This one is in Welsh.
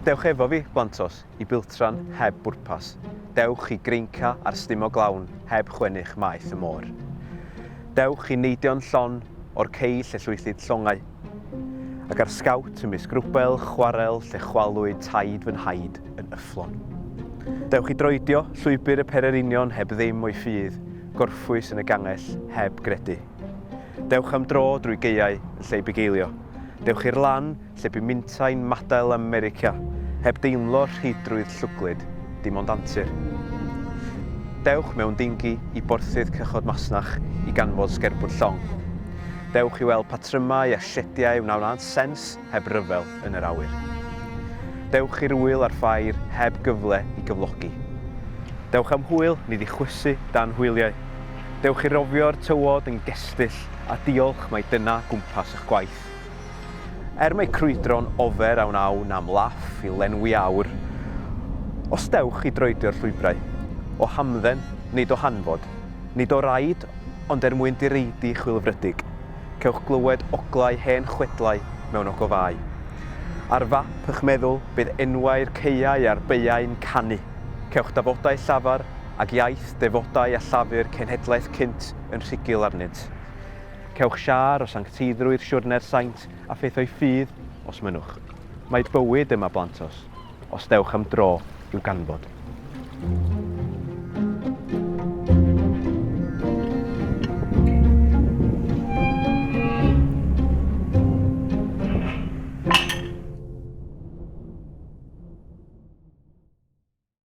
Dewch efo fi, blantos, i biltran heb bwrpas. Dewch i greinca ar stumo glawn heb chwennych maeth y môr. Dewch i neidio'n llon o'r cei lle llwythid llongau. Ac ar sgawt ymysg rwbel chwarel lle chwalwyd taid fy nhaid yn yfflon. Dewch i droedio llwybr y pererinion heb ddim o'i ffydd, Gorffwys yn y gangell heb gredu. Dewch am dro drwy gaeau yn lle i bugeilio. Dewch i'r lan lle bu mintai'n madael ym Merica, heb deimlo rheidrwydd llwglyd, dim ond antur. Dewch mewn dingi i borthydd cychod masnach i ganfod sgerbwd llong. Dewch i weld patrymau a siediau wnawnânt sens heb ryfel yn yr awyr. Dewch i'r ŵyl a'r ffair heb gyfle i gyflogi. Dewch am hwyl, nid i chwysu dan hwyliau. Dewch i rofio'r tywod yn gestyll a diolch mai dyna gwmpas eich gwaith. Er mae crwydro'n ofer a wnawn am laff i lenwi awr, os dewch i droedio'r llwybrau, o hamdden, nid o hanfod, nid o raid, ond er mwyn direidi chwilfrydig, cewch glywed oglau hen chwedlau mewn ogofâu. Ar fap ych meddwl bydd enwau'r caeau a'r beuau'n canu. Cewch dafodau llafar ac iaith defodau a llafur cenhedlaeth cynt yn rhugl arnynt. Cewch siâr o sancteiddrwydd siwrne'r saint a phetho'i ffydd, os mynnwch. Mae bywyd yma blantos. os dewch am dro i'w ganfod.